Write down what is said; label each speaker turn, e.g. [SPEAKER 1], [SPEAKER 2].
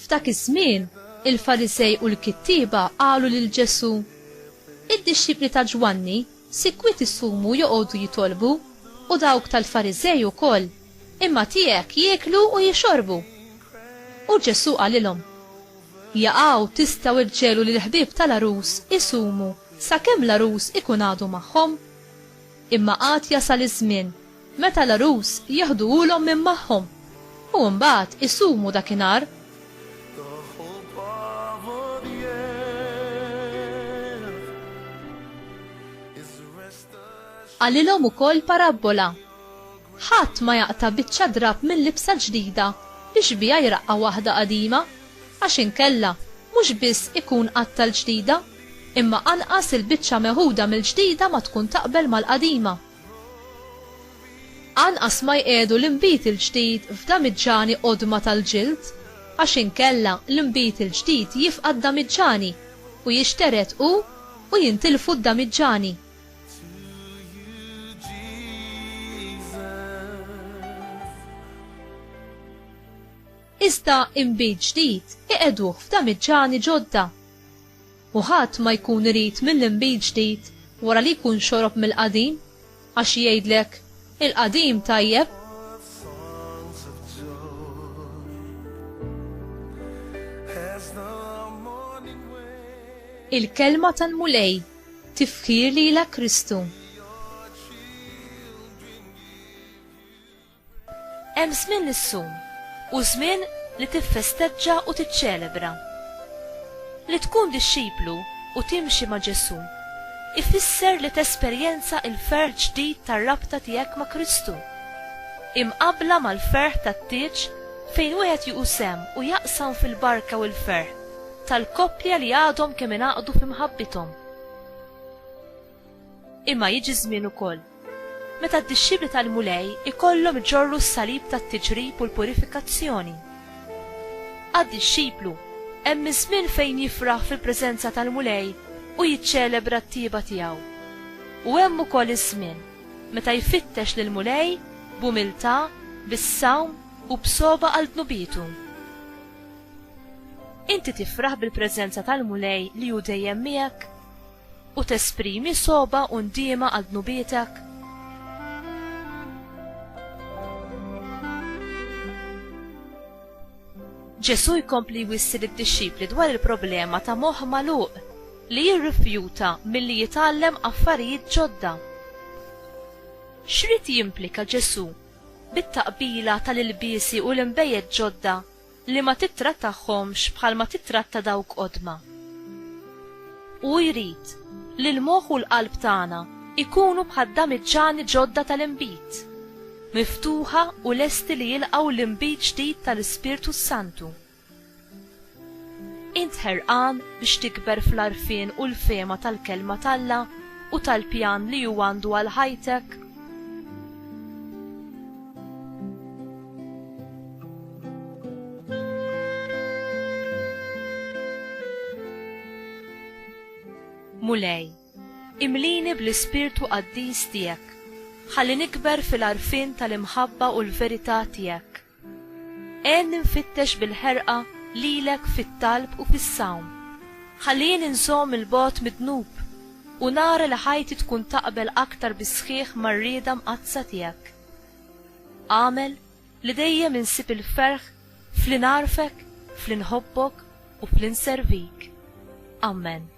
[SPEAKER 1] F'dak iż-żmien, il-Farisej u l-kittieba qalu lil Ġesù, Id-dixxipli ta' Ġwanni sikwit isumu joqogħdu jitolbu, u dawk tal-Farisej ukoll, imma tiegħek jieklu u jixorbu. U Ġesù qalilhom, Jaqaw tistgħu irġelu li l-ħbieb tal-għarus isumu sakemm l-għarus ikun għadu magħhom. Imma għad jasal iż-żmien meta l-għarus jeħduhulhom minn magħhom u mbagħad isumu dakinhar. Qalilhom ukoll parabbola Ħadd ma jaqta' biċċa drapp minn libsa ġdida biex biha jraqqa' waħda qadima, għax inkella, mhux biss ikun qatta' l-ġdida, imma anqas il-biċċa meħuda mill-ġdida ma tkun taqbel mal-qadima. Anqas ma jqiegħdu l-inbid il-ġdid f'damiġġani qodma tal-ġild, għax inkella l-inbid il-ġdid jifqa' d-damiġġani, u jixtered hu, u jintilfu d-damiġġani. Iżda inbid ġdid iqegħduh f'damiċċani ġodda. U ħadd ma jkun irid mill-inbid ġdid wara li jkun xorob mill-qadim, għax jgħidlek, 'Il-qadim tajjeb, il-kelma tal-Mulej Tifħir lilek Kristu. Hemm żmien li ssum u żmien li tiffesteġġa u tiċċelebra. Li tkun dixxiplu u timxi ma' Ġesù ifisser li tesperjenza l-ferħ ġdid tar-rabta tiegħek ma' Kristu, imqabbla mal-ferħ tat-tieġ fejn wieħed jieħu sehem u jaqsam fil-barka u l-ferħ tal-koppja li għadhom kemm ingħaqdu fi mħabbithom. Imma jiġi żmien ukoll meta d-dixxipli tal-Mulej ikollhom iġorru s-salib tat-tiġrib u l-purifikazzjoni. Għad-dixxiplu, hemm iż-żmien fejn jifraħ fil-preżenza tal-Mulej u jiċċelebra t-tjieba tiegħu. U hemm ukoll iż-żmien meta jfittex lill-Mulej b'umiltà, bis-sawm u b'sogħba għal dnubietu. Inti tifraħ bil-preżenza tal-Mulej li hu dejjem miegħek? U tesprimi sogħba u ndiema għal dnubietek? Ġesù jkompli jwissi lid-dixxipli dwar il-problema ta' moħħ magħluq li jirrifjuta milli jitgħallem affarijiet ġodda. X'rid jimplika Ġesù bit-taqbila tal-ilbiesi u l-inbejjed ġodda li ma tittrattahomx bħalma tittratta dawk qodma. Hu jrid li l-moħħ u l-qalb tagħna jkunu bħad-damiġġani ġodda tal-inbid, miftuħa u lesti li jilqgħu l-inbid ġdid tal-Ispirtu s-Santu. Int ħerqan biex tikber fl-għarfien u l-fehma tal-Kelma t'Alla u tal-pjan li hu għandu għal ħajtek? Mulej, imlini bl-ispirtu qaddis tiegħek, ħalli nikber fil-għarfien tal-imħabba u l-verità tiegħek. Għen nfittex bil-ħerqa lilek fit-talb u fis-sawm, ħalli jien inżomm il-bogħod mid-dnub u nara li ħajti tkun taqbel aktar bis-sħiħ mar-rieda mqaddsa tiegħek. Agħmel li dejjem insib il-ferħ f'li nagħrfek, f'li nħobbok, u f'li nservik. Ammen.